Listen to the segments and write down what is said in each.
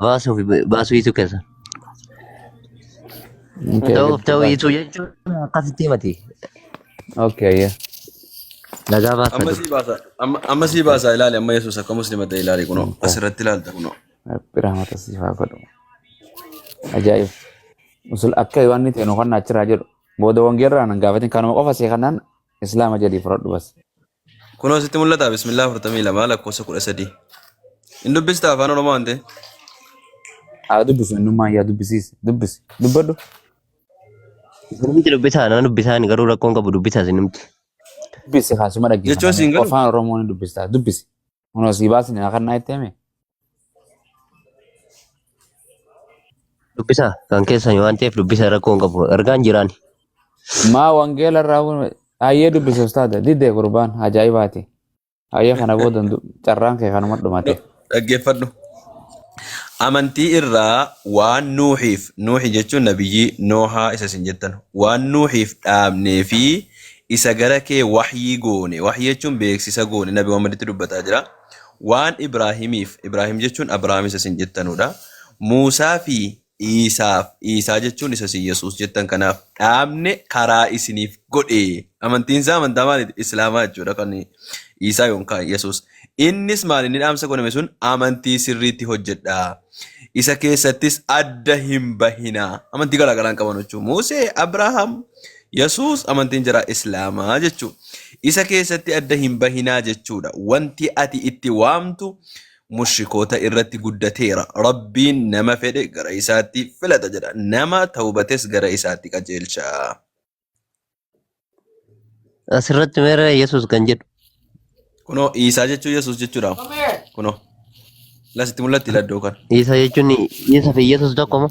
Baasuu fi baasuu dhiisuu keessa. Intee Ta'uuf giddu ta'uu baasa. dhiisuu jechuun akkasitti himati. Okay, ayya. Nagaa baasa Amma dur. sii baasa. Amma amma sii baasa ilaali amma Yesuus akka musliima ta'e ilaali kunoo Intee. asirratti ilaalta kunoo. Rabbi rahmata siif haa godhu. Ajaa'ib. Musul akka Yohaanni ta'e nu kan achirraa jedhu. Booda wangeerraa nan gaafatin kanuma qofa see kanaan Islaama jedhii fudhadhu bas. Kunoo sitti mul'ata bismillaa 42 lakkoofsa 13. Hin dubbista afaan oromoo waan ta'e. Haa dubbisu innummaan yaa dubbisiis dubbisi dubbadhu. Namti dubbisaa nama dubbisaa inni garuu rakkoon qabu dubbisaa isin namti. Dubbisi kaasuma Jechuun siin dhaggeeffannaan galu. afaan oromoo ni dubbista dubbisi. Kunoo sii baasni na kannaa itti hime. Dubbisa kan keessan waan ta'eef dubbisa rakkoo hin qabu. Ergaan jiraan. Maa wangeela irraa kun hayyee dubbisa ustaada didee gurbaan ajaa'ibaati. Hayyee kana booda hin du- carraan kee kanuma dhumate. Dhaggeeffadhu. Amantii irraa waan nuuxiif, nuuxi jechuun nabiyyii noohaa isa isin jettan, waan nuuxiif dhaabnee fi isa gara kee wahyii goone, wahyii jechuun beeksisa goone, Nabi Muhammaditti dubbataa jira, waan Ibraahimiif, Ibraahim jechuun Abrahaam isa isin jettanuudha, Muusaa fi Iisaaf, Iisaa jechuun isa isin Yesuus jettan kanaaf dhaabne karaa isiniif godhe. Amantiin isaa amantaa maaliiti? Islaamaa jechuudha kan Iisaa yookaan Yesuus. Innis maal inni dhaamsa godhame sun amantii sirriitti hojjedhaa. Isa keessattis adda hin bahinaa. Amantii garaa garaa hin qaban jechuudha. Muusee, Abrahaam, Yesuus amantiin jira Islaamaa jechuudha. Isa keessatti adda hin bahinaa jechuudha. Wanti ati itti waamtu mushrikoota irratti guddateera. Rabbiin nama fedhe gara isaatti filata jedha. Nama tawbates gara isaatti qajeelcha. Asirratti meera Yesuus kan jedhu. Kunoo Iisaa jechuun Yesuus jechuudha. Kunoo lasitti mul'atti laddoo kana. Isa jechuun isa fi Yesuus tokko moo?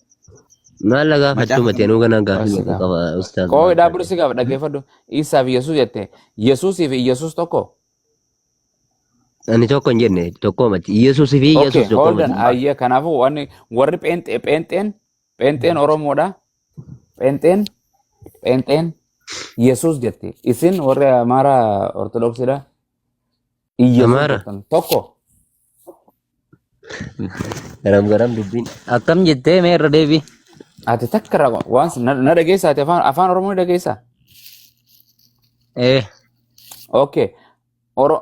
Maal lagaa Macaafa fattuma ta'e nuuga nagaa Qoy fi si maqaa gaafa. qaba ustaaz Qoy maal dhaaburi taate. si gaafa dhaggeeffadhu. Iisaa fi Yesuus jette. Yesuusii fi Yesuus tokko. Ani tokko hin jenne tokko mati. Yesuus fi Okay, Yesuus tokko hold on. mati. Ayyee kanaafuu wanni warri pheenxee pheenxeen pheenxeen Oromoodha. Pheenxeen pheenxeen Yesuus jette. Isin warri Amaaraa Ortodoksiidha. Yesuus Amaara. jettan. Tokko. Garam garam dubbiin. Akkam jettee mee irra deebii. Ati takka raba waan na na dhageessaa ati afaan afaan Oromoo ni dhageessaa? Ee. Okay. Oro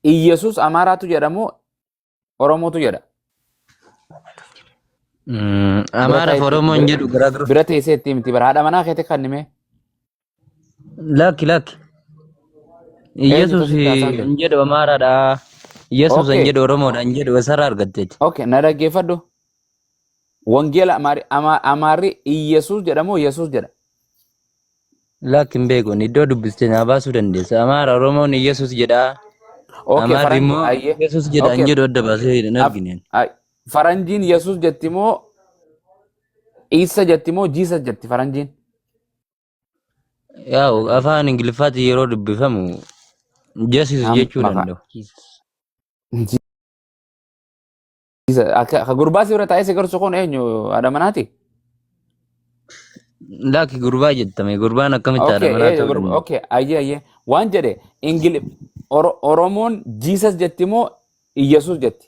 Iyyasuus Amaaraatu jedhamu Oromootu jedha. Mm, Bira Amaara fi ta'e Oromoon jedhu garaagarummaa. bira teessee itti miti bara haadha manaa keetti kannime. Lakki lakki. Eenyutu Yesuus sitti haasaan hin jedhu Amaaraadha. Yesuus hin Okay, jedhu Oromoodha hin jedhu eessarraa argatte jechuudha. okay, na dhaggeeffadhu. Wangeela Amaari, Ama- Amaarri Iyyasuus jedhamoo Yesuus jedha? Lakki hin beeku iddoo dubbiste naa baasuu dandeessa. Amaara Oromoon Yesuus jedha. Okay, Amaarri faranji, immoo ayyee. Yesuus jedha hin Okay, jedhu adda baasee hin af, argine. ay, faranjiin Yesuus jetti moo Iisa jetti moo Jiisas jetti faranjiin? Yaa afaan Ingiliffaatiin yeroo dubbifamu justice Nam jechuu mafa. danda'u. Ji- Isa- Akka akka gurbaa si bira taa'ee si gorsu kun eenyu haadha manaati? Laakki gurbaa jettame gurbaan akkamitti haadha Okay, manaa eh, ta'uu gurba- danda'a? okay, ayyee ayyee. Waan jedhe Ingili Oro- Oromoon Jesus jetti moo Iyyasuus jetti?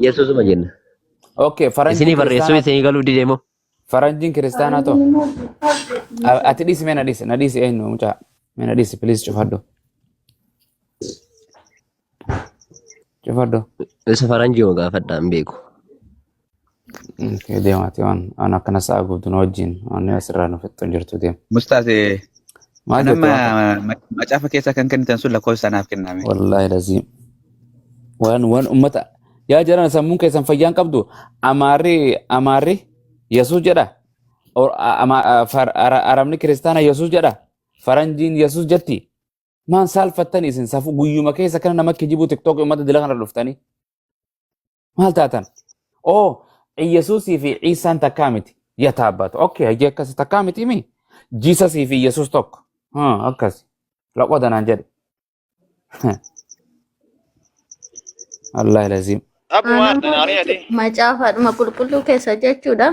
Yesuusuma jenna. Okay, Isinii faranjiin barreessuu kiristaanaa isinii galuu didee moo? faranjiin kiristaanaa too. A- Ati dhiisi mee na dhiisi na dhiisi eenyu mucaa mee na dhiisi please cufadhu cufadhu. Isa faranjiuma gaafadha hin beeku. Deemaati waan waan akkana sa'a guutuu na wajjin waan asirraa nu fixxu jirtu deema. Mustaas Maal kan amma jette waan ma- macaafa keessaa kan kennitan sun lakkoofsa naaf kenname. wallaahi lazii waan waan ummata yaa jaran sammuun keessan fayyaan qabdu amaarri amaarri yesuus jedha Or- a- ama- a- far- ara- arabni kiristaana yesuus jedha faranjiin yesuus jetti maan saalfattani isin safu guyyuma keessa kana nama kijibu tiktook ummata dila kana dhuftanii Maal taatan? Oo, Iyyasuusii fi Iisaan takkaa miti. Yataa abbaatu. Okkee, hajii akkasi takkaa miti mi? Jiisasii fi Iyyasuus tokko. Haa, akkasi. Laqoo danaan jedhe. Allah laziim. Abu Anaa Martin, maal Ariati. jechuudha? Macaafaadhuma qulqulluu keessa jechuudha.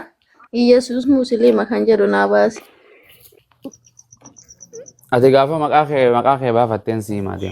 Iyyasuus musliima kan jedhu naa baase. Ati gaafa maqaa kee maqaa kee baafatteen sii maadee.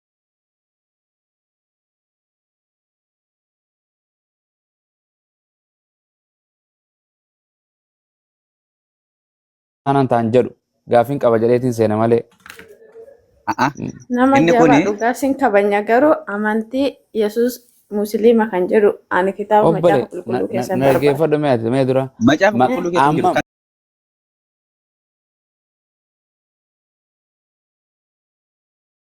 Kanan taan jedhu gaafin qaba jedheetiin seena malee. A'a. Nama Inni jaba kuni- dhugaa sin kabanya garuu amantii Yesuus Musliima kan jedhu ani kitaaba Obbole macaafa qulqulluu keessan na barbaada. dhaggeeffadhu mee ati mee dura. Macaafa Ma- qulqulluu keessa hin jiru. amma-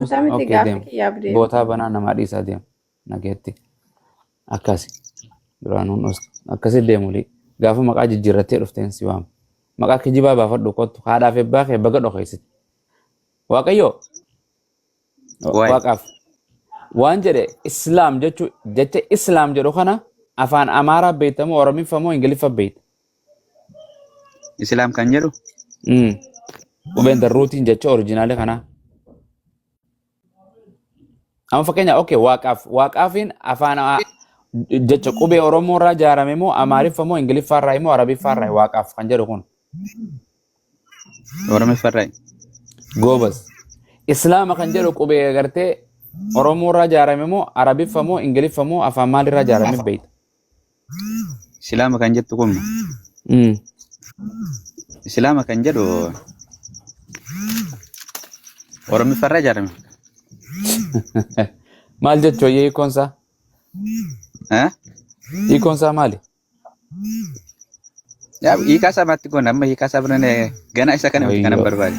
Isaa miti Okay, gaaffii deema. kiyyaaf deema. Bootaa banaa namaa dhiisaa deema. Nageetti. Akkasi. Duraanuun dhus. Akkasi deemu lii. Gaafa maqaa jijjiirrattee dhufteen si waama. Maqaa kijibaa baafadhu kottu. Haadhaaf ebbaa kee baga dhokeessite. Waaqayyoo. Waay. Waaqaaf. Waan jedhe Islaam jechuu jecha Islaam jedhu kana afaan Amaaraa beektamoo Oromiffamoo Ingiliffa beekta. Islaam kan jedhu Mm. Qubeen the rootiin jecha orijinaalii kanaa. Amma fakkeenya okay waaqaaf waaqaafiin afaan a- jecha qubee Oromoo irraa ijaarame moo Amaariffa moo Ingiliffaa irraa moo Arabiffaa irraa waaqaaf kan jedhu kun Oromiffaa irraa. goobas. Islaama kan jedhu qubee agartee Oromoo irraa ijaarame moo Arabiffa moo Ingiliffa moo afaan maalirraa ijaarame beekta. Islaama kan jettu kun Mm. Islaama kan jedhu Oromiffarra ijaarame. Maal jechuu ayyee hiikoon isaa? Eh? Hiikoon isaa maali? Yaa hiikaa isaa maatti goona amma hiikaa isaa biraan ganaa isa kana miti kanan Wayyoo. barbaade.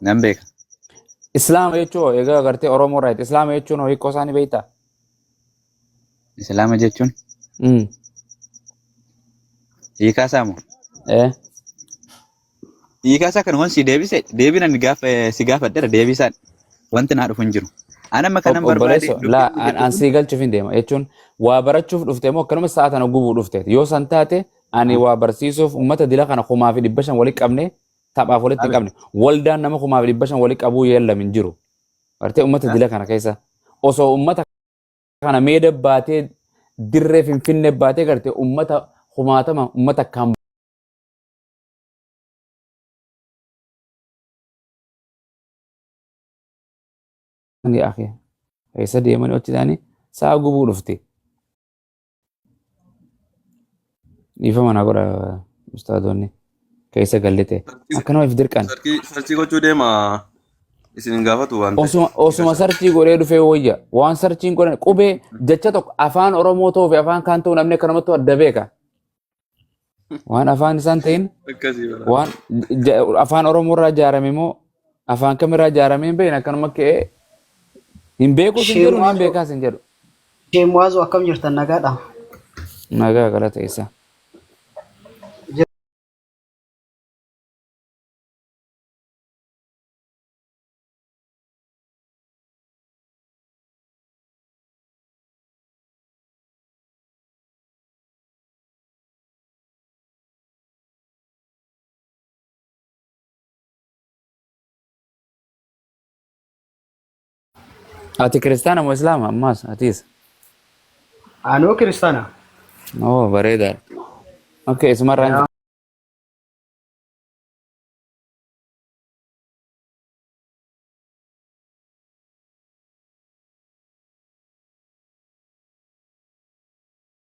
Nan beeka. Islaama jechuun hoo egaa agartee Oromoo irraa Islaama jechuun hoo hiikoo isaanii beektaa? Islaama jechuun Mm. hiikaa isaa moo? Eh. Hiikaa isaa kanuman si deebise deebiin ani gaafa si gaafadheera deebii isaa wanti naa dhufu hin jiru. Ani amma kanan barbaade Obboleesso, dubbii laa, kun an, jechuun an kun sii galchuuf hin deema. Jechuun waa barachuuf dhufte moo akkanuma sa'a tana gubuu dhufte. Yoo san taate Ani waa barsiisuuf uummata dila kana kumaa fi dhibba shan walitti qabne taphaaf walitti hin qabne. Waldaan nama kumaa fi dhibba shan walitti qabuu yeellam hin jiru. Bartee uummata dila kana keessa osoo uummata kana meeda baatee dirree finfinne baatee garte uummata kumaatama uummata akkaan ni akee. Keessa deemanii hojjetanii sa'a gubuu dhufte. Dhiifama na godha ustaadoonni keessa gallite. Akkanuma if dirqan. Sarkii sarkii gochuu deema isin hin gaafatu waan ta'eef. Osuma osuma sarchii godhee dhufee wayya. Waan sarchiin godhan qubee jecha tokko afaan Oromoo ta'uu fi afaan kaan ta'uu namni akkanumatti adda beeka. Waan afaan isaan ta'in Akkasii bara. waan ja- afaan Oromoo irraa ijaarame moo afaan kam irraa ijaarame hin beekne akkanuma ka'ee hin beekus hin jedhu hin Sheemwaazoo beekaas hin jedhu. Sheemwaazoo akkam jirtan nagaadha? Nagaa galata isaa. Ati kiristaana moo islaama ammaas atiis? Anoo kiristaana. Oo bareedaadha. Okay isumarraan Yaa.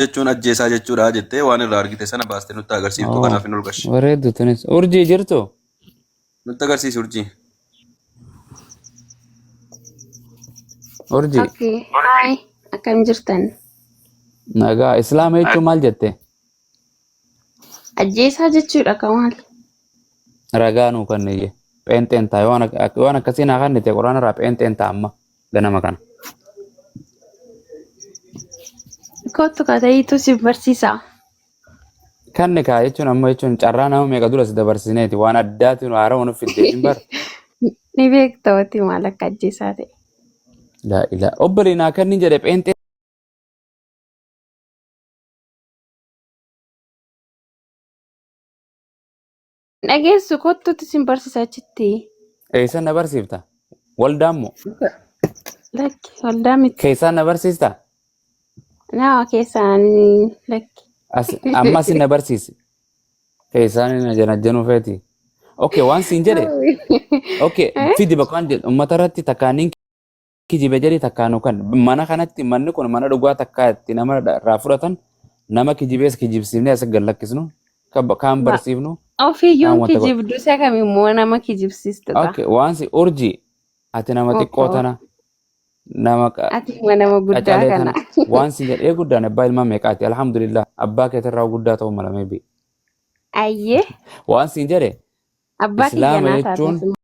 jechuun ajjeesaa jechuudha jettee waan irraa argite sana baastee nutti agarsiiftu Oo, kanaaf hin ulgashi. Bareeddu tunis. Urjii jirtu? Nutti agarsiisi urjii. Urjii. Okay. Hi. Akkam jirtan? Nagaa. Islaama jechuun maal jette? Ajjeesaa jechuudha kan maal? Ragaa nuu kanniyye. Pheenxeen ta'a. Yoo waan ak- ak- waan akkasii naa kannite quraana irraa pheenxeen ta'a amma ganama kana. Kottu katayiitu si barsiisa. Kan nikaa jechuun amma jechuun carraa nama meeqa dura si dabarsineeti waan addaati nu haara waan fiddeetiin bar. Ni beekta wanti maal akka ajjeesaa ta'e. Laa ilaa. Obbolee naa kanni jedhe pheenxee Dhageessu kottutti sin barsiisa achitti. Eessan na barsiifta? Waldaan moo? Lakki waldaa miti. Keessaan na barsiista? Nama keessaan lakki. As- Amma sin na barsiisi. Keessaan na janajjanuu feeti. Okay, waan siin jedhe. Okay, fidi bakka waan jedhu uummata irratti takkaaniin kijibe jedhi takkaa nu kan mana kanatti manni kun mana dhugaa takkaa itti nama irraa fudhatan nama kijibees kijibsiifnee as gad lakkisnu kan ba- kaan Ba- barsiifnu kaan Ofiyyuun wanta godhu. kijibdu isa kam immoo nama kijibsiistu ta'a. Okay, waansi urjii ati nama xiqqoo Okkoo. tana nama qa- Ati immoo nama guddaa qacalee kana. tana waansi jedhee guddaan abbaa ilmaa meeqaati alhamdulillah abbaa keetirraa guddaa ta'uu mala meebi Ayyee waansi jedhe abbaa kiyya islaama naa jechuun taate.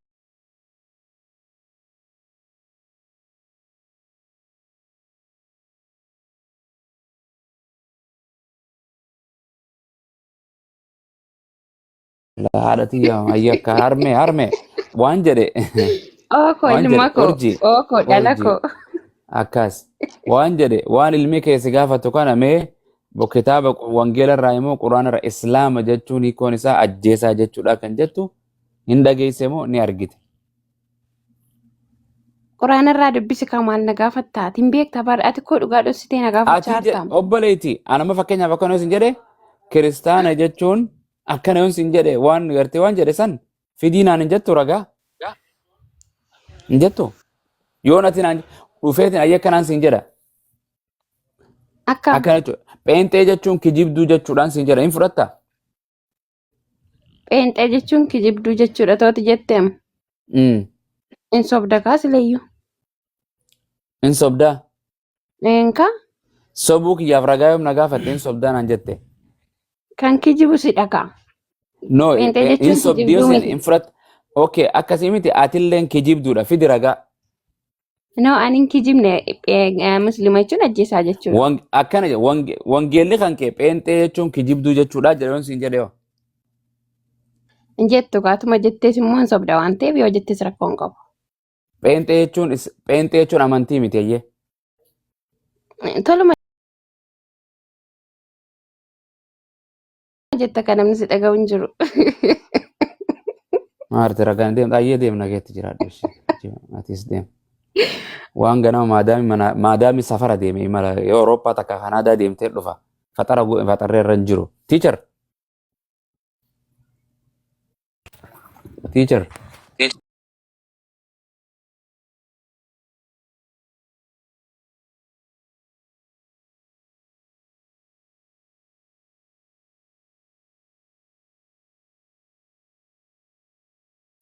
haadha tiyya ayya akka harme harme waan jedhe Ooko waan jedhe ilma koo. urji Ooko dhala urji koo. akkas waan jedhe waan ilmi kee si gaafatu kana mee bo- kitaaba qu- wangeela irraa immoo quraana irraa islaama jechuun hiikoon isaa ajjeesaa jechuudha kan jettu hin dhageesse moo ni argite Quraana irraa dubbisi kaa maal na gaafatta? Ati hin beekta bar ati koo dhugaa dhossitee na gaafachaa Ati je- jirtaam. obboleetti anama fakkeenyaaf akkana yoon sin jedhe kiristaana jechuun akkana yoon sin jedhe waan gartee waan jedhe san fidii naan hin jettu ragaa hin jettu yoon ati naan dhufeetin ayya akkanaan sin jedha Akkam? akkana jechuudha pheenxee jechuun kijibduu jechuudhaan sin jedha hin fudhatta Pheenxee jechuun kijibduu jechuudha tooti jetteem. Mm. In sobda kaa sileyyuu. In sobdaa. Eenka Sobuu kiyyaaf ragaa yoom na gaafatte in sobdaa naan jette. kan kijibu si dhakaa. No, Pheenxee eh, jechuun in sobdi yoo kijibduu sin miti. in fudhat. Okay, akkasii miti atilleen kijibduudha fidi ragaa. No, ani hin kijibne eh, muslima jechuun ajjeesaa jechuudha. Wan- Akkana jedhe wange- wangeelli kan kee pheenxee jechuun kijibduu jechuudha jedhee siin jedhee hoo. Hin jettu gaatuma jettees immoo hin sobda waan ta'eef yoo jettees rakkoo hin qabu. Pheenxee jechuun is- pheenxee jechuun amantii miti eeyyee. Eh, Toluma jetta kan namni si dhaga'u hin jiru. Maarti ragaan deemta ayyee deemna keetti jiraadhu ishee. Atis deem. Waan ganama maadaami mana maadaami safara deeme imala Awurooppaa takka Kanaadaa deemtee dhufa. Faxara gu- faxarri irra hin jiru. Teacher. Teacher.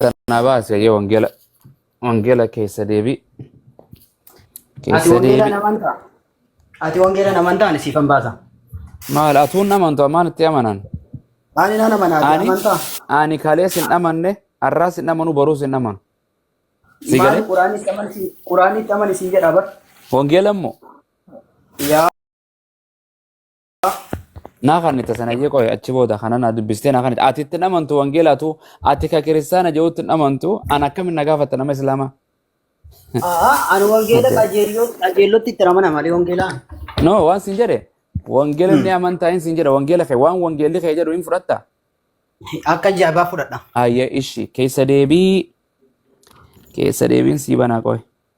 Sanaa baase yoo wangeela wangeela keessa deebi Ati keessa wangeelaan deebi amantaa? Ati wangeelaan amantaa ani siifan baasa. maal atuun amantu amaan itti amanan Ani nan amana ati ani amantaa? ani kalees hin amanne har'aas hin amanu baruus hin amanu si Maali galee quraanitti amani si- quraanitti amani siin jedha bar. wangeela immoo Yaa naa kan itti sanayyee qoye achi booda kana naa dubbistee naa kan itti ati itti hin amantu wangeelaatu ati ka kiristaana jehuutti hin amantu an akkamin na gaafatta nama islaamaa Aa, ani wangeela qajeelloo qajeellootti itti ramana malee wangeelaan. no waan sin jedhe wangeela inni amantaa hin sin jedhe wangeela kee waan wangeelli kee jedhu hin fudhatta Akka jaabaa fudhadha. ayya ishi keessa deebii keessa deebiin sii banaa qoye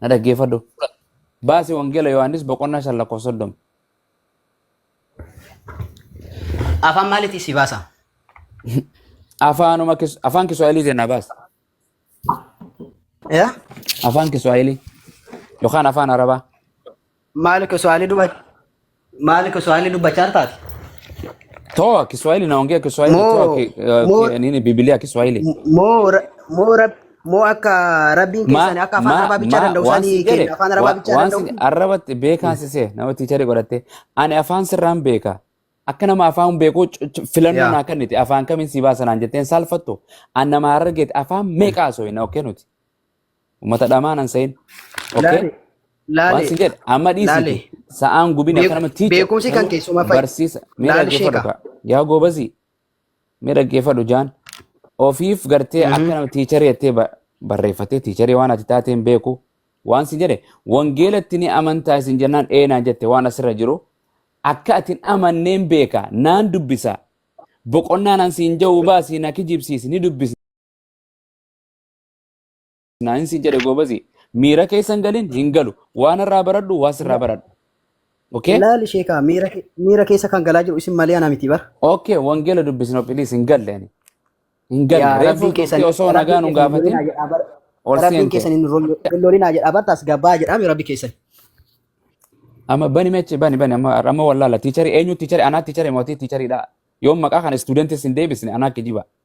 Na dhaggeeffadhu. Baasi Wangeela Yohaannis boqonnaa shan lakkoofsa soddoma. Afaan maaliitii si baasa? Afaanuma kis- afaan Kiswaahilii jennaa baasi. Yaa? Afaan Kiswaahilii yookaan afaan Arabaa. Maali Kiswahili duba Maali Kiswahili dubbachaa taate? Toa Kiswahili naongea Kiswahili toa Moo ki, uh, moo ki, nini Biblia Kiswahili. moo ra- moo rab moo akka rabbiin Ma keessan akka afaan ma arabaa bichaa ma danda'u waan sanii si jedhe keenya afaan arabaa wa- bichaa waan danda'u si arrabatti beekaan si see nama tiicharii godhatte ani afaan sirraan beeka akka nama afaan beekuu c- c- filannoo yaa naa kennite afaan kamiin si baasanaan jetteen saalfattu an nama harargeeti afaan meeqaa sooyina okkee nuti Ummata dhamaa nan sayin. Okay? Laale. Waan Laale. sin jedhe amma dhiisiti Laale. sa'aan gubin Beek- akka nama tiicha beekumsi kan keessuma fa'i. barsiisa mee Laale dhaggeeffadhu sheeka. kaa yaa goobazii mee dhaggeeffadhu jaan ofiif gartee Mhm. akka nama tiicharii jettee ba- barreeffattee tiicharii waan ati taateen beeku waan sin jedhe wangeelatti ni amantaa isin jennaan eenaan jette waan asirra jiru akka atin amanneen beeka naan dubbisa boqonnaan an siin ja'u baasii na kijibsiisi ni dubbisi Naayin siin jedhe goobazi. Miira keessa hin galin hin galu. Waan irraa baradhu waa sirraa baradhu. Okay? Laali sheekaa miira ke- miira keessa kan galaa jiru isin malee ana miti bara. Okay, wangeela dubbisna please hin galle ani. Hin galle. Yaa Reefu rabbiin keessan turtii osoo nagaa nu gaafatin ol rabbiin seente. keessan hin rollolinaa jedha bar taas gabbaa jedhaami rabbi keessan. Amma bani meche bani bani amma amma wallaala tiicharii eenyu tiicharii anaa tiicharii mootii tiichariidha. Yoom maqaa kana istuudentis hin deebisne anaa kijiba.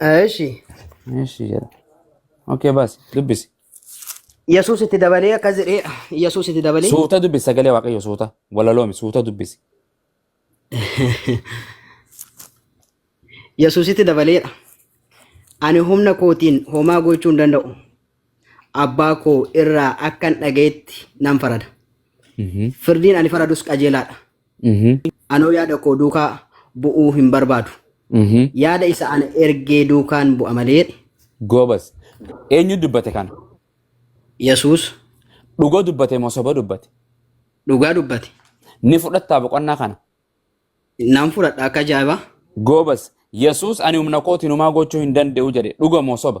Eeshi. Eeshi jedha. Okay baasi dubbisi. Yesuus itti dabalee akkas jedhee Yesuus itti dabalee. Suuta dubbisi sagalee waaqayyo suuta walaloomi suuta dubbisi. Yesuusitti dabaleedha. Ani humna kootiin homaa gochuu hin danda'u. abbaa koo irraa akkan dhagayetti nan farada. Firdiin ani faradus qajeelaadha. Anoo yaada koo duukaa bu'uu hin barbaadu. Yaada isa ana ergee duukaan bu'a malee jedhe. Goobas. Eenyu dubbate kana? Yesuus Dhuga dubbate moo soba dubbate? dhugaa dubbate. Ni fudhattaa boqonnaa kana? Nan fudhadha akka ajaa'ibaa. Goobas. Yesuus ani humna kootiin homaa gochuu hin danda'u jedhe. Dhuga moo soba?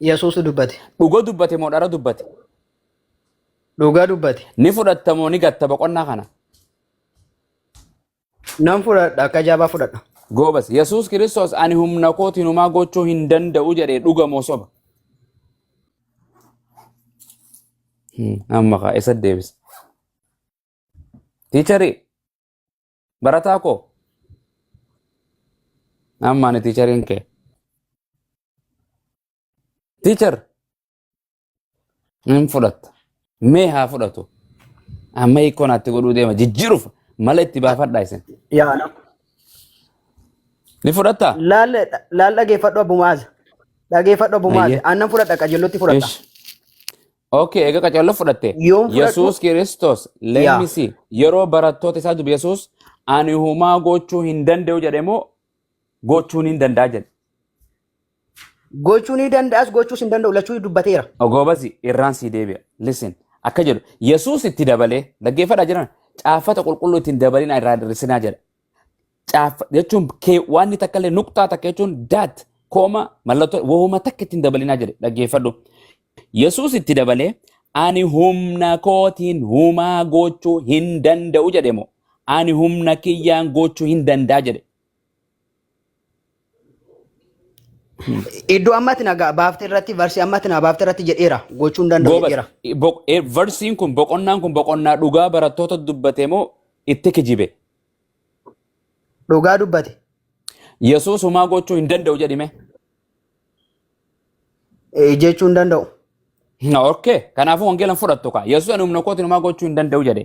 Yesuusu dubbate. Dhuga dubbate moo dhara dubbate? Dhugaa dubbate. Ni fudhatta moo ni gatta boqonnaa kana? Nan fudhadha akka jabaa fudhadha. Goobas. Yesuus Kiristoos ani humna kootiin homaa gochuu hin danda'u jedhee dhuga moo soba? Hmm, Amma kaa isa deebisa. Tiicharii Barataa koo. Amma ani tiichariin kee. Tiichar. Hin fudhatta. Mee haa fudhatu. Amma hiikoo naatti godhuu deema. Jijjiiruuf mala itti baafadhaa isin. Yaa na. Ni fudhattaa? Laal laal dhageeffadhu abbumaaz. Dhageeffadhu abbumaaz. Ayyee. Aannan fudhadha qajeellotti fudhadha. Ish. Okay, egaa qacarra fudhatte. yoon fudhadhu Yesuus Kiristoos, let yaa me see, yeroo barattoota isaa dubi Yesuus, ani humaa gochuu hin danda'u jedhe moo gochuun hin danda'a jedhe? gochuu ni danda'as gochuus hin danda'u lachuu dubbateera Ogoobasi irraan sii deebi'a. Listen, akka jedhu Yesuus itti dabalee dhaggeeffadhaa jiran caaffata qulqulluu ittiin dabalina irraa hir'isinaa jedha. caaffa jechuun kee waanni takka illee nuqxaa takka jechuun daat kooma mallattoo wahuma takka ittiin dabalinaa jedhe dhaggeeffadhu. Yesuus itti dabalee ani humna kootiin humaa gochuu hin danda'u jedhe moo ani humna kiyyaan gochuu hin danda'a jedhe. Iddoo amma ati na ga- baafte irratti varsii amma ati na baafte irratti jedheera gochuu hin danda'u Goobas, jedheera. boq- eh, versiin kun boqonnaan kun boqonnaa dhugaa barattoota dubbate moo itti kijibe? Dhugaa dubbate. Yesuus homaa gochuu hin danda'u jedhime. Eh, Jechuu hin danda'u. Okay, kanaafuu wangeela hin fudhattu kaa. Yesuus ani humna kootiin homaa gochuu hin danda'u jedhe.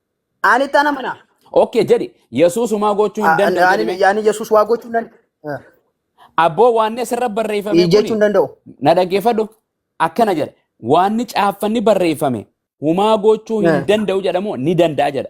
Ani ittaan amana. Okay jedhi Yesuus homaa gochuu hin danda'u jedhi mee. Ani Yesuus waa gochuu hin danda'u. Abboo waanni asirra barreeffame kuni Jechuu hin danda'u. na dhaggeeffadhu akkana jedha waanni caaffanni barreeffame humaa gochuu hin Eh. danda'u jedhamoo ni danda'a jedha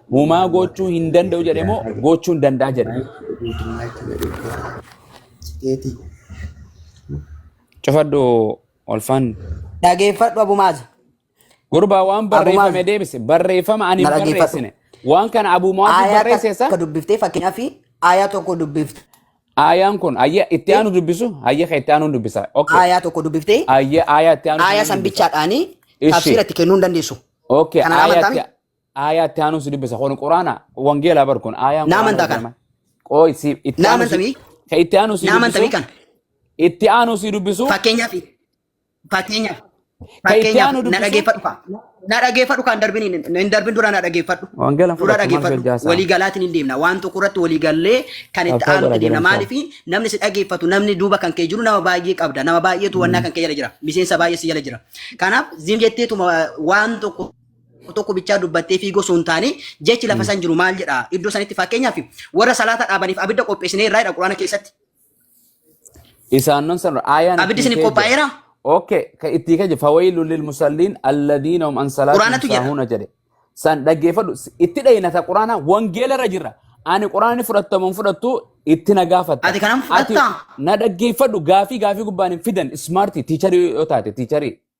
Humaa gochuu hin danda'u jedhe moo gochuu hin danda'a jedhe. Cufadhu olfaan. Dhageeffadhu abumaaz. Gurbaa waan barreeffame deebise barreeffama ani hin barreessine. Waan kana abumaaz barreesse isaa. Akka dubbiftee fakkeenyaaf aayaa tokko dubbifte. Aayaan kun ayya itti aanu dubbisu ayya kan itti aanu dubbisa. Aayaa tokko dubbiftee. Ayya aayaa itti aanu. Aayaa san bichaadhaanii tafsiira itti kennuu hin dandeessu. Okay. Kana amantaa Aayaa itti aanuu si dubbisa. Kun Quraana wangeelaa bar kun aayaan Naa Quraana amantaa kana. jedhama. Qooy si itti Naa aanuu si amantamii? ka itti aanuu si Naa dubbisu amantamii kana. itti aanuu si dubbisu Fakkeenyaaf fakkeenyaaf ka itti fakkeenyaaf aanuu na dubbisu dhageeffadhu kaa. Na dhageeffadhu kaa hin darbin hin darbin dura na dhageeffadhu. wangeela hin Dura fudhattu maal si dhageeffadhu. hojjaasaa. Walii galaatiin hin deemna. Waan tokko irratti walii gallee kan itti Qabsaa aanutti godha deemna. jedhan Maaliif isaa. namni si dhageeffatu namni duuba kan kee jiru nama baay'ee qabda. Nama baay'eetu wannaa kan kee jala jira. Miseensa baay'ee si jala jira. Kanaaf zim jetteetuma waan tokko tokko bichaa dubbattee fiigoo osoo hin taane jechi lafa san jiru maal jedha iddoo sanitti fakkeenyaaf warra salaata dhaabaniif abidda qopheessinee irraa jedha quraana keessatti Isaannon san aayaan abiddi isin qophaa'eera Oke, ka itti kaje fawailu lil musallin alladhina hum an salatihim Quraanatu jedha. sahuna jedhe. San dhaggeeffadhu itti dhayinata quraana wangeela irra jirra. Ani quraani fudhatamu hin fudhattu itti na gaafatta. Ati kanan fudhatta? Ati na dhaggeeffadhu gaafii gaafii gubbaan hin fidan smarti tiicharii yoo taate tiicharii.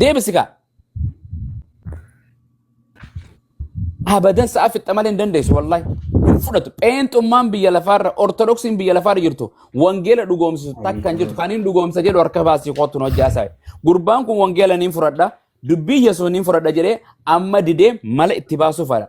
deebisi kaa abadan sa'a fixxa malee hin dandeessu wallahi hin fudhatu pheenxummaan biyya lafaarra ortodoksiin biyya lafaarra jirtu wangeela dhugoomsisu takka hin jirtu kan hin dhugoomsa jedhu harka baasii kootu nu hojjaa isaa gurbaan kun wangeela niin fudhadha dubbii yesuus niin fudhadha jedhee amma didee mala itti baasuuf fala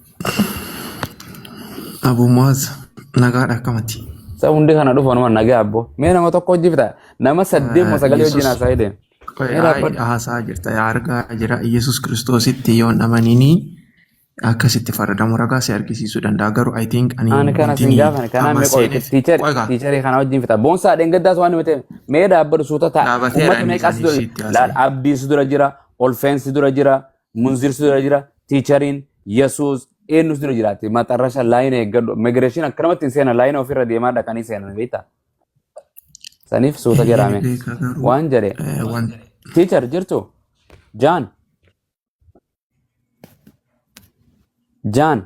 Abu Muaz nagaadha akkamati? Sa hundi kana dhufa numa nagaa abbo. Mee nama tokko hojii fita. Nama saddeet mo sagalee wajjin haasaa hidheen. Qoy Mee dhaabbadhu. aayidha haasaa jirta yaa argaa jira Yesus Kiristoositti yoon amanini akkasitti faradamu ragaa si argisiisuu danda'a garuu I think ani Ani kana wanti siin gaafan kanaa amma mee qoy seeneef tiichari qoy kaa tiicharii kana wajjin fita. Boonsaa dheengaddaas waan himate mee dhaabbadhu suuta ta'a. dhaabateera Uummata inni meeqaas isaanii dura sitti laal haasa'e. abdiis dura jira olfeensi dura jira Munzirsu dura jira, tiichariin, Yesuus, eenyus dura jiraatti. Maxarrasha laayina eeggadhu. Immigireeshin akkanumatti hin seenan laayina ofirra deemaa dhaqanii seenan beektaa? Saniif suuta Eeyyee jedhaame. beekaa garuu Waan jedhe eh, waan tiichar jirtu jaan jaan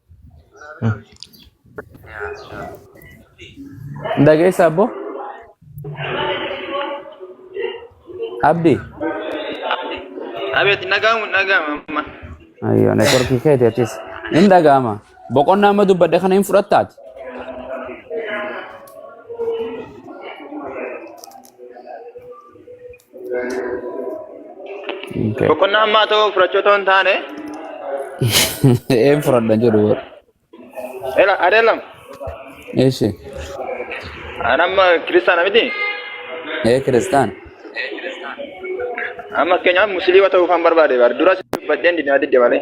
Dhageessa abbo? Abdi? Abeet dhaga'amu dhaga'ama amma. Ayyoo networkii keeti atis. Hin dhaga'ama. Boqonnaa amma dubbadhe kana hin fudhattaati. Boqonnaa ammaa ta'uu fudhachuu otoo hin taane Een fudhadha jedhu bar. ela adeelam Eeshi. anamma kiristaana miti Ee kiristaan. amma fakkeenyaaf musliima ta'uu kan barbaade bar dura si dubbadheen dinaa didde malee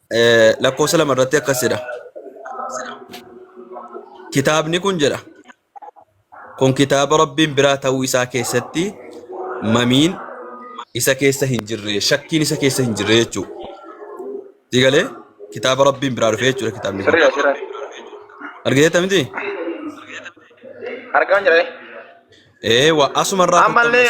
Eh, lakkoofsa lama irratti akkas jedha. Kitaabni kun jedha. Kun kitaaba Rabbiin biraa ta'uu isaa keessatti mamiin isa keessa hin jirre, shakkiin isa keessa hin jirre jechuudha. Digalee kitaaba Rabbiin biraa dhufe jechuudha kitaabni kun. Sirrii dha sirrii. Argiteetta miti? Argaan jira. Ee, waa asumarraa Ammallee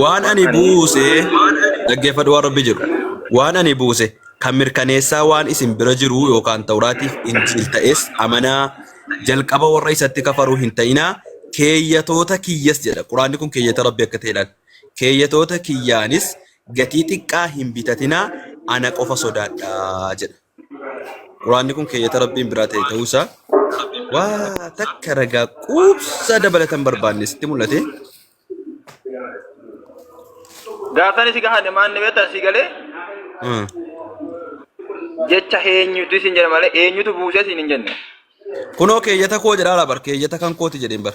Waan ani buuse dhaggeeffadhu waan rabbi jedhu. Waan ani buuse kan mirkaneessaa waan isin bira jiru yookaan tawraatiif injiil ta'es amanaa jalqaba warra isatti kafaruu hin ta'inaa keeyyatoota kiyyas jedha. Quraanni kun keeyyata rabbi akka ta'e laata. Keeyyatoota kiyyaanis gatii xiqqaa hin bitatinaa ana qofa sodaadhaa jedha. Quraanni kun keeyyata Rabbiin biraa ta'e ta'uusaa waa takka ragaa quubsaa dabalatan barbaanne sitti mul'ate. Gaafsan isi gahan maan ni beektan si galee Hmm. jecha eenyutu isin jedha malee eenyutu buusee isin hin jenne. Kunoo keeyyata koo jedhaa bar keeyyata kan kooti jedheen bar.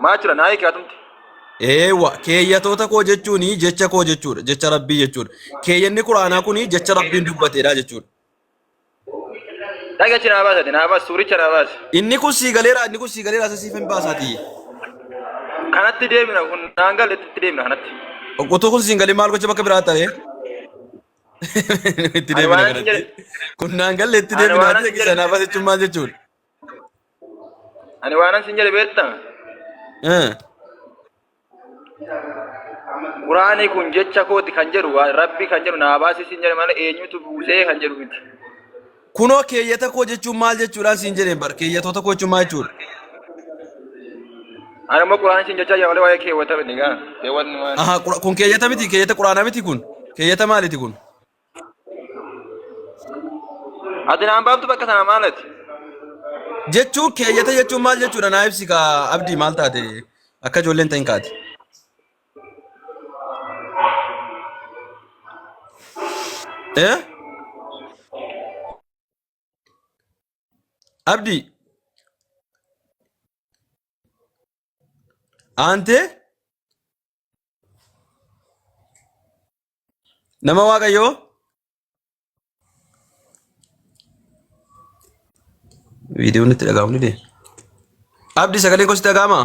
Maa jira naa hiike atumti. Eewa keeyyatoota koo jechuun jecha koo jechuudha jecha rabbii jechuudha keeyyanni quraanaa kun jecha rabbiin dubbateedha jechuudha Dhagachi naa baasati naa baas suuricha naa baas. inni kun sii galeera inni kun sii galeera isa siif hin baasaati Kanatti deemina kun naan galle itti deemina kanatti. utuu kun siin galii maal gocha bakka biraa ta'e itti Ani deebina waan kanatti jedhe kun naan galle itti ani deebina waanan ati sin jedhe sanaaf asichuun maal jechuun ani waanan sin jedhe beekta Eh, quraani kun jecha kooti kan jedhu waa- rabbi kan jedhu naa baasii sin jedhe malee eenyutu buusee kan jedhu miti. Kunoo keeyyata koo jechuun maal jechuudhaan siin jedheen bar keeyyatoota koo jechuun maal jechuudha? Ani immoo quraan siin jechaa jira malee waa'ee keewwata miti gaa. Keewwatni maali? Aha, qura- kun keeyyata miti keeyyata quraanaa miti kun keeyyata maaliti kun? Ati naan baaftu bakka sana maalati? Jechuun keeyyata jechuun maal jechuudha naa ibsi kaa abdii maal taate akka ijoolleen ta'in kaate. Eh? Abdi. Aantee? Nama waaqayyoo? Viidiyoon itti dhaga'amni dee. Abdi sagaleen koo sitti dhaga'amaa?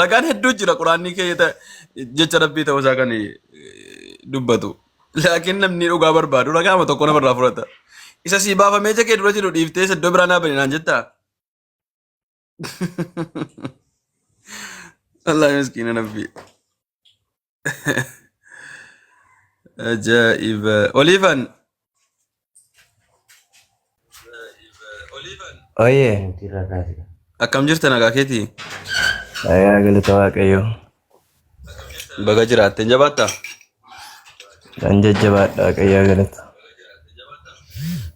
Ragaan hedduu jira quraanni keessa jecha rabbii ta'uu isaa kan eh, dubbatu. Laakiin namni dhugaa barbaadu ragaama tokko namarraa fudhata. Isa sii baafamee ija kee dura jiru dhiiftee isa iddoo biraa naa bane naan jettaa? Wallaahi miskiina nabbii. Ajaa'iba. Oliifan. Oye. Akkam jirta nagaa keetii? Nagaa galata waaqayyoo. Baga jiraatte jabaatta. Kan jajjabaadha waaqayyaa galata.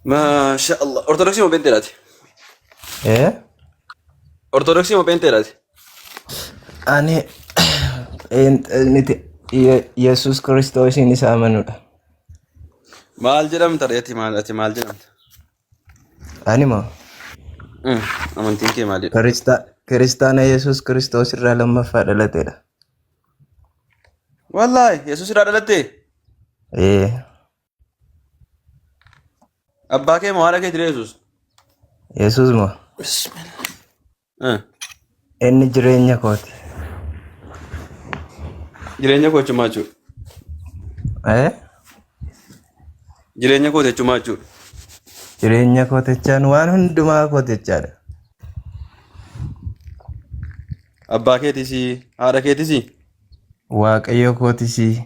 Maasha Allah. Ortodoksii moo peenteedhaati? Eh? Ortodoksii moo peenteedhaati? Ani pheenxee miti Ye- Yesuus Kiristoosiin isa amanudha. Maal jedhamta ati maal ati maal jedhamta? Ani moo Mm, Amantiin kee maalidha? Kirista- kiristaana Yesuus Kiristoos irraa lammaffaa dhalatedha. Wallaahi Yesuus irraa dhalattee? Ee, Abbaa kee moo haadha kee ture Yesuus? Yesuus moo Bismillah. Eh, Inni jireenya kooti. Jireenya koo jechuun maal jechuudha? Eh? Jireenya koo jechuun maal jechuudha? Jireenya kooti jechaan waan hundumaa kooti jechaadha. Abbaa keetis, haadha keetis, Waaqayyo kootisii.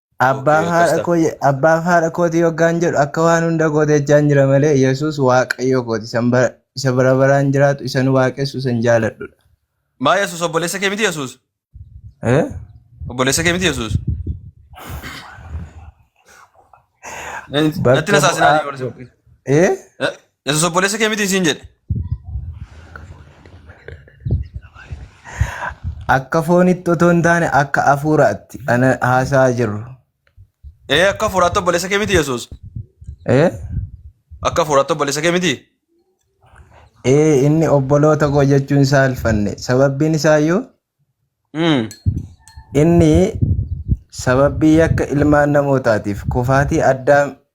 Abbaa Yookiin haadha akkas koo je- abbaa fi haadha kootii yoggaan jedhu akka waan hunda goote jechaan jira malee Yesuus waaqayyo kooti isan bara- isa bara baraan jiraatu isan waaqessu isan jaaladhudha. Maa Yesuus obboleessa kee miti Yesuus? Eh? Obboleessa kee miti Yesuus? Natti Bakka nasaasinaa bu'aa- ni Eh? Yesus obboleessa kee mitiin siin jedhe. Akka foonitti otoo hin taane akka hafuuraatti ana haasa'aa jirru. Ee akka hafuuraatti obboleessa kee miti Yesus. Ee? Akka hafuuraatti obboleessa kee miti. Ee inni obboloota koo jechuun isaa alfanne. Sababbiin isaa iyyuu Mm. inni sababii yakka ilmaan namootaatiif kufaatii addaa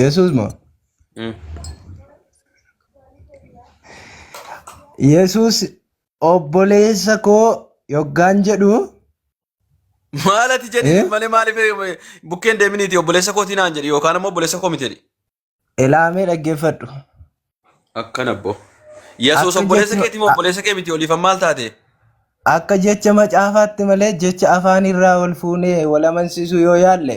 Yesuus moo? Mm. Yesuus obboleessa koo yoggaan jedhu Maal ati jedhi Eh? malee maaliif eh, bukkeen deeminiiti obboleessa kootii naan jedhi yookaan immoo obboleessa koo miti jedhi. ilaamee dhaggeeffadhu. Akkan abboo. Yesuus Akka obboleessa jechuun- keetii moo obboleessa kee miti oliifan maal taate? Akka jecha macaafaatti malee jecha afaanirraa wal fuunee wal amansiisuu yoo yaalle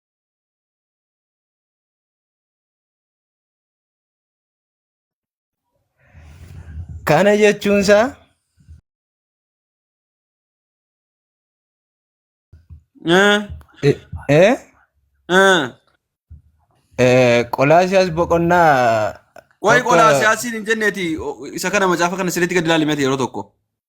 Kana jechuun isaa Ah, eh, eh, ah. eh, Qolaasiyaas boqonnaa Waa'ee tokko qolaa siyaasiin hin jenneeti o- isa kana macaafa kana sirriitti gad ilaalimeti yeroo tokko.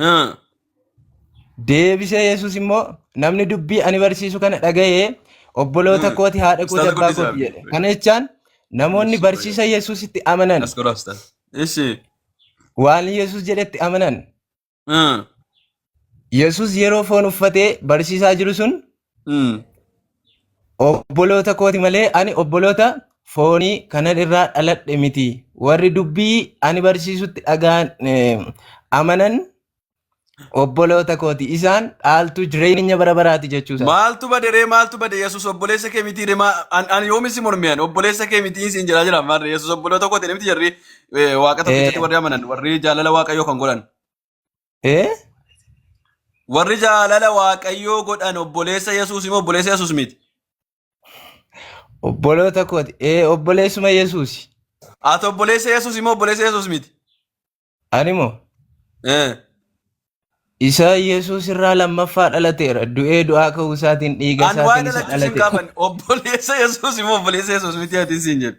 Ah. Deebisee Yesuus immoo namni dubbii ani barsiisu kana dhaga'ee obboloota Mm. kooti haadha kooti Ustaaza abbaa guddisaa kooti jedhe. Kana jechaan namoonni Yesuus barsiisa Yesuusitti amanan As godhaa ustaaza. Ishi. waan Yesuus jedhetti amanan Ah. Yesuus yeroo foon uffatee barsiisaa jiru sun Mm. Obboloota kooti malee ani obboloota foonii kanan irraa dhaladhe miti. Warri dubbii ani barsiisutti dhagaan eh, amanan obboloota kooti. Isaan dhaaltuu jireenya bara baraati jechuu isaati. Maaltu bade ree maaltu bade Yesuus obboleessa kee mitii ree maa- an an yoomi si mormiyan obboleessa kee mitii siin jedhaa jira maarree Yesuus obboloota kooti miti jarri eh, waaqa tokkichatti Eh, warri amanan warri jaalala waaqayyoo kan godhan. Ee? Warri jaalala Waaqayyoo godhan obboleessa Yesuus immoo obboleessa Yesuus miti. Obboloota kooti. Ee obboleessuma Yesuusi. Ati obboleessa Yesuus immoo obboleessa Yesuus miti. Animoo Eh, isa Yesuus irraa lammaffaa dhalateera. Du'ee du'aa ka'uu isaatiin dhiiga Ani waa'ee isaatiin isa dhalachuu sin dhalate. gaafanne obboleessa Yesuus immoo obboleessa Yesuus miti ati siin jedhu.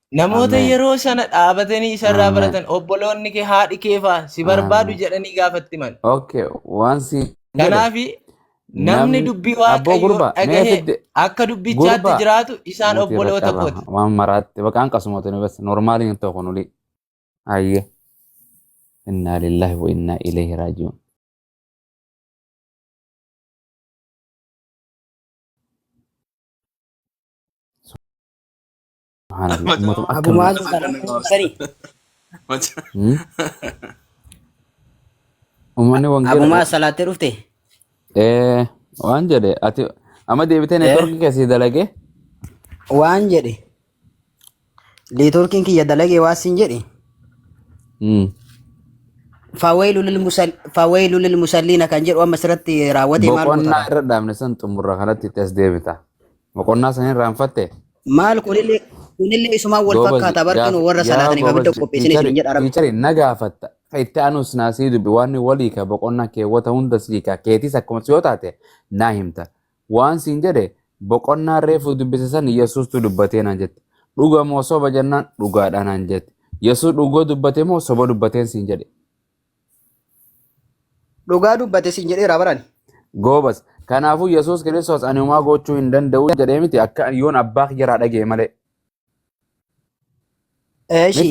Namoota Ameen. yeroo sana dhaabatanii isarraa Ameen. baratan obboloonni kee haadhi kee faa si barbaadu Ameen. jedhanii gaafatti mal. Okay, waan si jedhe Kanaaf namni namni dubbii abboo waaqayyoo gurba mee dhagahee fidde akka dubbichaatti gurba jiraatu isaan nuti obboloota bakka kooti. irra waan maraatti bakka hanqasumatu nu bas normaali hin ta'u kunuli ayye innaa lillahi wa innaa ilayhi raaji'uun Subhaanallah. Mataa- Ummatuma akka Abu malee. Mu'aaz kana kuusanii. Hmm? Ummanni Abu wangeela. Mu'aaz salaattee dhufte. Eh, waan jedhe ati amma deebitee Eh? neetworkii keessi dalagee Waan jedhe. Neetworkiin kiyya dalagee waan siin jedhe. Hmm. Fawaylu lil musal fawaylu lil musalliina kan jedhu amma asirratti raawwatee maal boqonnaa goota? irra dhaabne san xumurra kanatti itti as deebita. Boqonnaa san irraanfatte? Maal kunillee kunillee isumaan wal Goobaz, fakkaata gaaf- barkinu warra yaa salaataniif abidda goobaz, qopheessin tiichari- isin jedha rabbi. tiichari na gaafatta. Ka itti aanus naa sii dubbi waan walii ka boqonnaa keewwata hunda sii ka keetis akkuma si yoo taate naa himta. Waan siin jedhe boqonnaa reefu dubbise san Yesuustu dubbatee naan jette. Dhuga moo soba jennaan dhugaadhaa naan jette. Yesuus dhugoo dubbate moo soba dubbateen siin jedhe. Dhugaa dubbate siin jedheera barani. Goobas. Kanaafuu Yesuus Kiristoos ani homaa gochuu hin danda'u jedhee miti akka yoon abbaa kiyyaraa dhaga'e malee. Eeshi.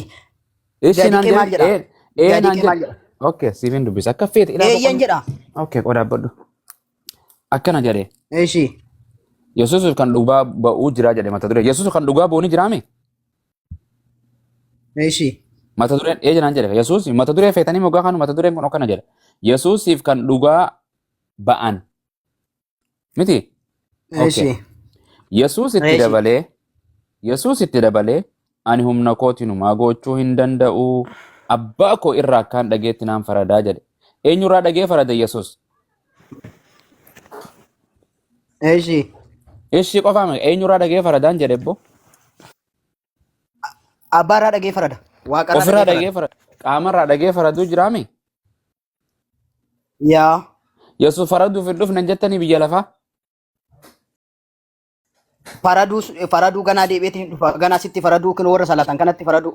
Ishi Gadi naan qee maal jedhe. jedha? Ee Gadi naan qee maal jedhe. jedha? Okay, siifin dubbisa. Akka feete ilaa Eeyyan jedha. Okay, qodaa badhu. Akkana jedhe. Eeshi. Yesuus kan dhugaa ba'uu jira jedhe mata duree. Yesuus kan dhugaa ba'uu ni jiraame? Eeshi. Mata dureen ee jenaan jedhe Yesuus mata duree feetanii moggaa kanu mata dureen kun akkana jedha. Yesuusiif kan dhugaa ba'an miti. Eeshi. Yesuus itti Eeshi. dabalee Yesuus itti dabalee ani humna kootiin homaa gochuu hin danda'u abbaa koo irraa akkaan dhageetti naan faradaa jedhe. Eenyurraa dhagee farada Yesuus? Eeshi. Ishii qofaa miti eenyurraa dhagee faradaan jedhe boo? Abbaa irraa dhagee farada. Waaqa irraa Ofirraa dhagee farada. dhagee farada. Qaamarraa dhagee faraduu jiraame. Yaa. Yesuus faraduuf hin dhufne jettanii biyya lafaa. Faraduu faraduu ganaa deebi'eetiin hin dhufa. Ganaa sitti faraduu kan warra salatan kanatti faraduu.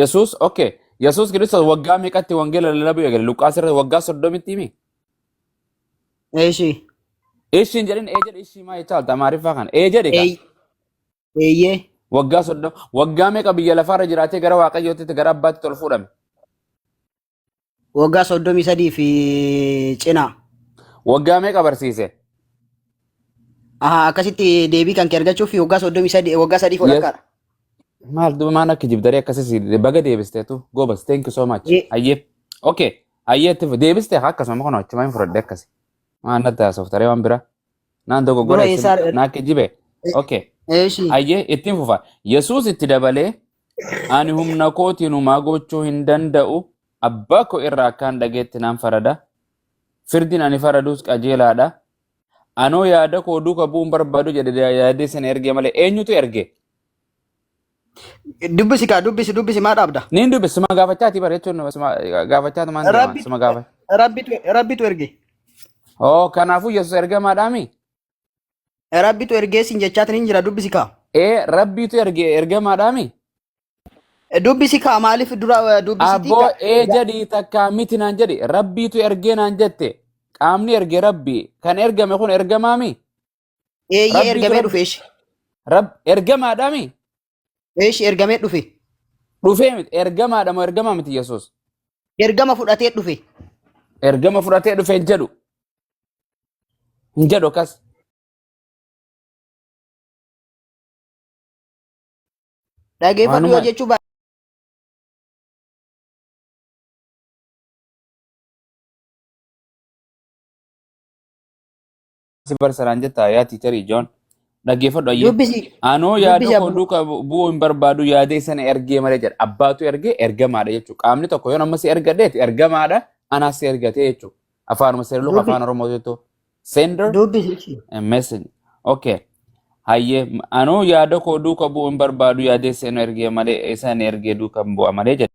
Yesuus okay Yesuus Kiristoos waggaa meeqatti wangeela lallabuu eegale Luqqaas irratti waggaa soddomitti himi Eeshii. ishiin jedhin ee jedhi ishii maa jechaa olta amaariffaa kana ee jedhi kaa Eeyyee. waggaa soddoma waggaa meeqa biyya lafaarra jiraatee gara waaqayyootti gara abbaatti ol fuudhame Waggaa soddomii sadii fi cinaa. Waggaa meeqa barsiise? Aha, akkasitti deebii kan kee argachuuf waggaa soddomii sadii waggaa sadii Yes. fudhakkaadha. Maal duuba maan akka jibdaree akkasas baga deebisteetu goobas thank you so much. Ye- Hayyee. Okay. Hayyee itti fu- deebistee haa akkasuma kun achuma hin fudhadhe akkasi. Maan natti haasoftaree waan biraa. Naan Bro, dogoggora isin eessaa naa kijjibe. Okay. eeshi. Hayyee ittiin fufa. Yesuus itti dabalee Ani humna kootiin humaa gochuu hin danda'u. Abbaa koo irraa akkaan dhageetti naan farada. Firdiin ani faradus qajeelaadha. Anoo yaada koo duuka bu'uun barbaadu jedhe yaadee sana erge malee eenyutu erge? Dubbisi kaa dubbisi dubbisi maa dhaabda? Niin dubbe sima gaafachaati bara jechuun nama sima gaafachaatu maan deema Rabbi sima gaafa. rabbitu rabbitu erge. Oo kanaafuu Yesuus ergamaadhaami? Rabbitu ergee siin jechaatiin hin jira dubbisi kaa. Ee rabbiitu erge ergamaadhaami. Dubbisi kaa maaliif dura eh, dubbisitii Abboo gaa- ee jedhi takkaa miti naan jedhi rabbiitu ergee naan jette qaamni erge rabbii kan ergame kun ergamaami. eeyyee Rabbiitu ergamee rabbi dhufe ishee. Rab ergamaadhaami. Eesh ergamee dhufe. Dhufee miti ergamaadha moo ergamaa miti Yesuus. Ergama fudhatee dhufe. Ergama fudhatee dhufe hin jedhu. Hin jedhu akkas. Dhageeffadhu yoo Waanuma- jechuu baate. si barsiisaan jettaa yaa tiicharii Joon. Dhaggeeffadhu ayyee. Dubbisi. Anoo Dubbisi yaada koo abbuma. duuka bu- bu'uu hin barbaadu yaadee sana ergee malee jedha. Abbaatu ergee ergamaadha jechuudha. Qaamni tokko yoo amma si ergadheeti ergamaadha anaas si ergatee jechuudha. Afaanuma seerluka Dubbi- afaan Oromoo jettu. Sender Dubbisi. ishii. a message. Okay. Hayyee m- anoo yaada koo duuka bu'uu hin barbaadu yaadee sana ergee malee isaan ergee duuka hin bu'a malee jedha.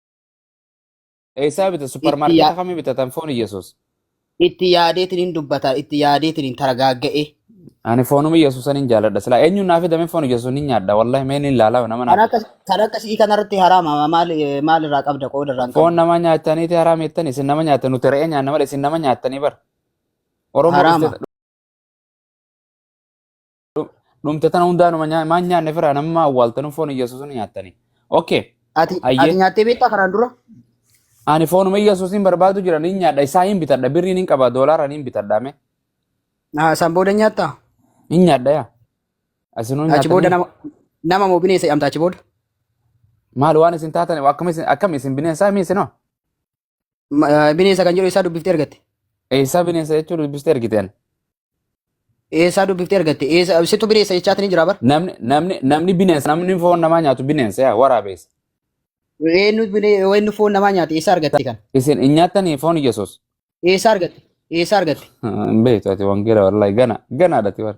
Eessaa bita? itti Supparmaarkeeta yaa- kamii bitatan foon Iyyasuus? itti yaadeetiin hin dubbata itti yaadeetiin hin targaagga'e Ani foonuma Iyyasuusan hin jaaladha. Silaa eenyuun naa fidame foon Iyyasuus ni nyaadha. Wallahi mee ni ilaala nama naa kan akka fida. kan akka si'ii kanarratti haraama maal maal irraa qabda qooda irraa hin Foon qabdu nama nyaataniiti haraam jettan isin nama nyaatan nuti re'ee nyaanna malee isin nama nyaatanii bar. Oromoo haraama dhuftee dhumte tana hundaanuma nyaa- maan nyaanne firaa namma awwaaltanu foon iyyasuusin nyaattani okay Ati Ayyee. ati nyaattee beektaa kanaan dura? ani foonuma iyyasuusin barbaadu jira niin nyaadha isaa hin bitadha birriin hin qaba doolaaraan hin bitadha me Ah, San booda nyaattaa? hin nyaadha yaa asinuu Achi booda nyaatanii nama nama moo bineensa jedhamta achi booda? maal waan isin taatan akkam isin akkam isin bineensaa mi isinoo Ma- eh, Bineensa kan jedhu eessaa dubbiftee argatte? Eessaa bineensa jechuu dubbistee argiteen. Eessaa dubbiftee argatte? Eessa situ bineensa jechaatti ni jira bar? Namni namni namni bineensa namni foon namaa nyaatu bineensa yaa waraabeessa. Eenyu binee- eenyu foon namaa nyaate eessaa argatte kan? Isin hin nyaatanii foon Yesuus. Eessaa argatte? Eessaa argatte? Hin beektu ati wangeela wallahi gana ganaadha ati bara.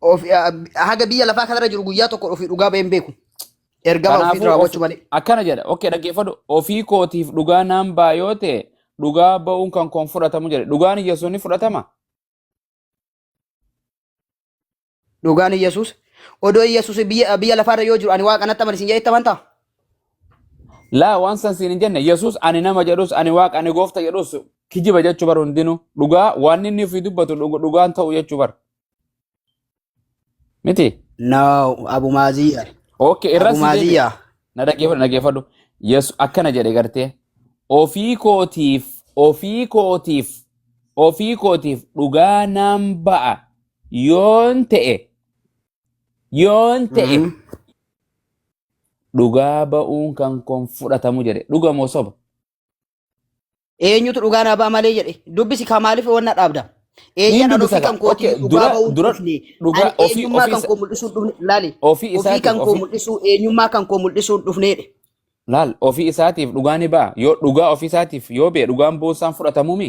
Of- ah, haga biyya lafaa kanarra jiru guyyaa tokko ofii dhugaa bahee hin beeku. Ergama ofii Kanaafuu raawwachuu ofi- malee. akkana jedha. Okkee dhaggeeffadhu. Ofii kootiif dhugaa naan ba'a yoo ta'e dhugaa ba'uun kan koon fudhatamu jedhe. Dhugaan Yesuus ni fudhatama. Dhugaan Iyyasuus. Odoo Iyyasuus biyya biyya lafaarra yoo jiru ani waaqa natti amanisiin jedhee itti amantaa? Laa waan san siin hin jenne Yesuus ani nama jedhus ani waaqa ani goofta jedhus kijiba jechuu bar hundinuu dhugaa waan inni ofii dubbatu dhug- dhugaan ta'u jechuu bar miti. No, Abu Maziya. Ok Abu irratti deebi'a. Maziya. Na dhaggeeffadhu dhaggeeffadhu. Yesu akkana jedhe gartee ofii kootiif ofii kootiif ofii kootiif dhugaa naan ba'a yoon ta'e Yoon ta'e Mm. dhugaa ba'uun kan koon fudhatamu jedhe dhuga moo soba? Eenyutu dhugaa naa ba'a malee jedhe. Dubbisi kaa maaliif wanna dhaabda? Niin Eeyyaan an dubbisa ofii kan kaa kootii okay dhugaa dura ba'uun dura dhufne. Ani dhugaa ofii eenyummaa ofii kan isa- koo mul'isuun dhufne. Laali. ofii Ofii isaatiif kan koo ofii mul'isuu eenyummaa kan koo mul'isuun dhufneedhe. laal ofii isaatiif dhugaa ni ba'a yoo dhugaa ofii isaatiif yoo ba'e dhugaan bu'uun isaan fudhatamu mi?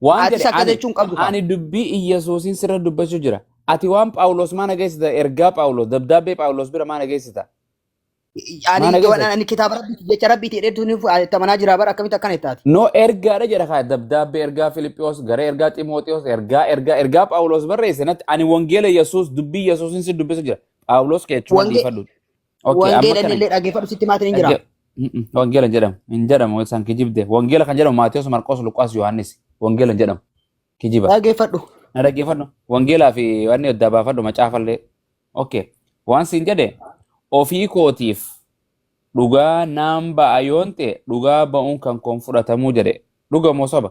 Waan Atis jedhe akka ani jechuun qabdu qaba. ani dubbii Iyyasuusiin sirra dubbachuu jira. Ati waan Phaawulos maa nageessita ergaa Phaawulos dabdaabbee Phaawulos bira maa nageessita? Maa Ani nageessita? ani kitaaba rabbiiti jecha rabbiiti dheedduun itti amanaa jira bara akkamitti akkana ittaati. No ergaadha jedha kaa dabdaabbee ergaa Filiphiyos gara ergaa Ximootiyoos ergaa ergaa ergaa Phaawulos barreesse natti ani wangeela Yesuus dubbii Yesuusiin si dubbisa jira. Phaawulos keechuma Wange- dhiifadhu. Okay, amma Wangeela kana illee dhaggeeffadhu sitti maatiin hin jiraa? dhagge- Mm-mm, wangeela hin jedhamu hin jedhamu isaan kijibde wangeela kan jedhamu Maatiyos Marqos Luqaas Yohaannis wangeela hin jedhamu kijiba Dhaggeeffadhu. na dhaggeeffadhu wangeelaa fi wanni adda baafadhu macaafallee okay waan siin jedhe ofii kootiif dhugaa naan ba'a yoon ta'e dhugaa ba'uun kan koon fudhatamuu jedhe dhuga moo soba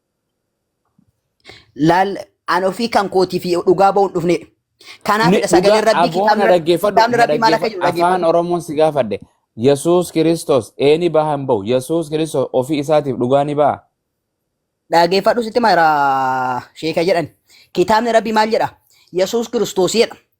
laal an ofii kan kootii fi dhugaa ba'uun dhufneedha. Kanaafidha sagaleen rabbii kitaabni rabbii kitaabni rabbii maal akka jiru afaan dhaggeeffadhu. oromoon si gaafadhe yesuus kiristoos eeni baha hin bahu yesuus kiristoos ofii isaatiif dhugaa ni baha Dhaggeeffadhu sitti mara sheeka jedhan. Kitaabni rabbii maal jedha? Yesuus kiristoos jedha.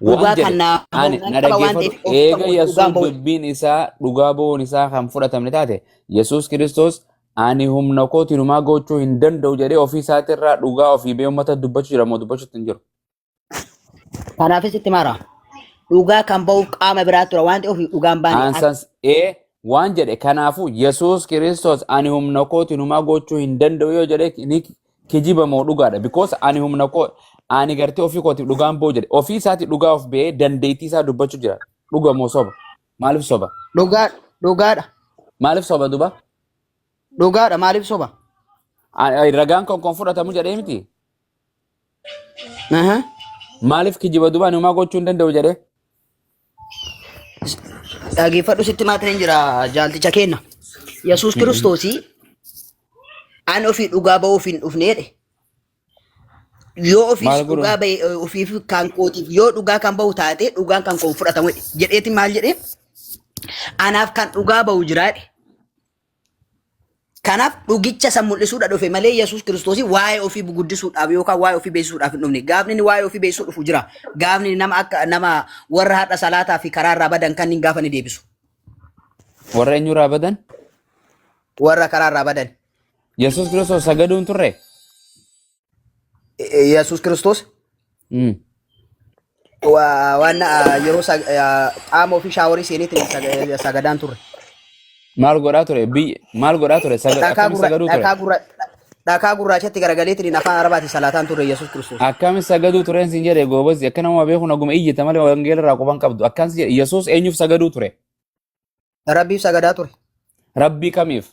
Waan Dhugaa jedhe kan naa ani na qaba waan dhaggeeffadhu ta'eef of eega ta'uu Yesuus dhugaan ba'u. dubbiin isaa dhugaa ba'uun isaa kan fudhatamne taate Yesuus Kiristoos ani humna kootiin homaa gochuu hin danda'u jedhee ofii isaatii irraa dhugaa ofii ba'ee uummata dubbachuu jira moo dubbachuutti hin jiru. Kanaafis itti maara. Dhugaa kan ba'uuf qaama biraa tura waan ta'eef dhugaan baane akka Aansans ee waan jedhe kanaafuu Yesuus Kiristoos ani humna kootiin homaa gochuu hin danda'u yoo jedhe ni kijiba moo dhugaadha because ani humna koo ani gartee ofii kootiif dhugaan boo jedhe ofii isaati dhugaa of ba'ee dandeettii isaa dubbachu jira dhuga moo soba maaliif soba Dhugaa dhugaadha. maaliif soba duba Dhugaadha maaliif soba? Ani- ani ragaan kan kan fudhatamu jedhee miti Aha. maaliif kijiba duba ani homaa gochuu hin danda'u jedhee Dhaggeeffadhu sitti maatiin jira jaalticha keenna. Yesuus Kiristoosii an ofii dhugaa ba'uuf hin dhufneedhe. Yoo ofiis Maal godhu? dhugaa ba'e eh, ofiif kan kootiif yoo dhugaa kan ba'u taate dhugaan kan koo hin fudhatamu jedhe. jedheeti maal jedhee anaaf kan dhugaa ba'u jiraadhe. Kanaaf dhugicha san mul'isuudha dhufe malee Yesuus Kiristoosii waa'ee ofii guddisuudhaaf yookaan waa'ee ofii beeksisuudhaaf hin dhufne. Gaafni inni waa'ee ofii beeksisuu dhufu jira. Gaafni inni nama akka nama warra har'a salaataa fi karaa irraa badan kan inni gaafa ni deebisu. Warra eenyurraa badan? Warra karaa irraa badan. Yesuus Kiristoos sagaduun turre? Eh, Yesuus Kiristoos Mm. wa- waan ah, yeroo sag- ah, qaama ofii shaaworii seeneetti sag- sagadaan turre. Maal godhaa ture? Biyya maal godhaa ture? Saga- Dhakaa Akkamitti gurra- sagaduu ture? dhakaa gurra- dhakaa gurraachatti garagaleetiin afaan arabaatiin salaataan turre Yesuus Kiristoos. Akkamitti sagaduu tureen siin jedhe goobazzi akka nama beeku naguma iyyita malee wangeela irraa quban qabdu. Akkaan si jedhe Yesuus eenyuuf sagaduu ture? Rabbiif sagadaa ture. Rabbii kamiif?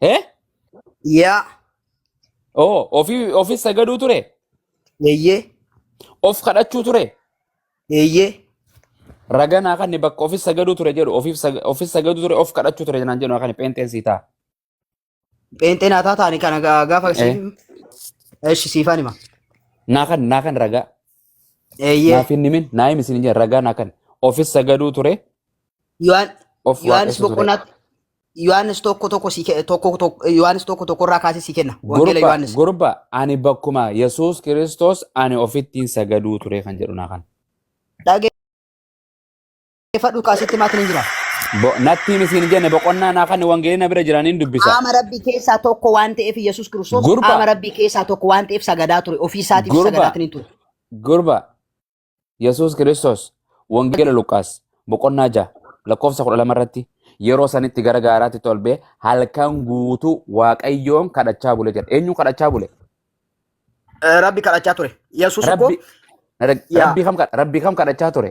Eh? Yaa. Oh, ofii ofis sagaduu ture. Eeyyee. Of kadhachuu ture. Eeyyee. Raganaa kan bakka ofis sagaduu ture jedhu ofiif sag- ofis sagaduu ture of kadhachuu ture jenaan jedhu kan pheenxeen sii ta'a. Pheenxeen haa taataani kana gaa- gaafa Eh? siif. Eshi siifaan hima. Naa kan naa kan ragaa. Eeyyee. Naaf hin himin naa himi isin jedhan ragaa naa kan ofis sagaduu ture Yohaan- of Yohaanis waaqessu ture. boqonnaatti Yohaannis tokko tokko sii ke- tokko tokko Yohaannis tokko tokko irraa kaasee sii kenna. Wangeela Gurba, Yohaannis. gurba ani bakkuma Yesuus Kiristoos ani ofittiin sagaduu ture kan jedhu naa kan. Dhageeffadhu kaasitti maatiin hin jira. Bo- Nattiin isin jenne boqonnaa naa kan wangeelii na bira jiraniin dubbisa. Qaama rabbii keessaa tokko waan ta'eef Yesuus Kiristoos Gurba. qaama rabbii keessaa tokko waan ta'eef sagadaa ture. Ofii isaatiif Gurba. sagadaatiin hin ture. Gurba Yesuus Kiristoos Wangeela Luqaas boqonnaa ja'a lakkoofsa kudha lama irratti yeroo sanitti gara gaaraatti tolbee halkan guutuu Waaqayyoon kadhachaa bule jedha. Eenyu kadhachaa bule? Eh, Rabbi kadhachaa ture. Yesuus immoo Rabbi, Rag- Yaa. Rabbi, kam, kadha- Rabbi kam kadhachaa ture?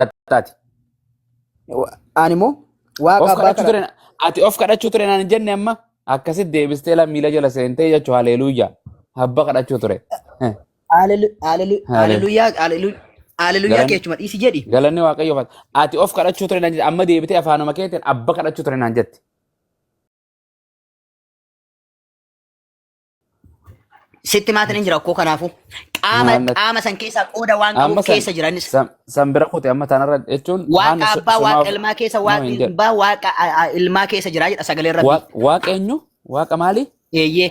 kadhattaati. Ani immoo waaqa Of abbaa kadhachuu kadhadha. ture ati of kadhachuu ture naan hin jenne amma akkasitti deebistee la miila jala seentee jechuu haleeluuyyaa abba kadhachuu ture. Eh, Haalelu- haalelu- Haalelu- Haaleluyyaa haalelu- haaleluyyaa Galan- keechuma dhiisi jedhi. Galanni waaqayyoof ati- ati of kadhachuu ture naan jette amma deebitee afaanuma keetiin abba kadhachuu ture naan jette. Sitti maatiin hin jira akkoo kanaafuu. Qaama Maamila- qaama san keessaa qooda waan Amma qabuuf san- keessa jiranis. san- san bira kute amma tanarra jechuun Waaqa haana so- abbaa waaqa somaaf- ilmaa keessa No, waaqa hin jedhu. abbaa waaqa a- a- ilmaa keessa jira jedha sagalee rabbi. Waaq- Waaqa eenyu? Waaqa maali? Eeyyee.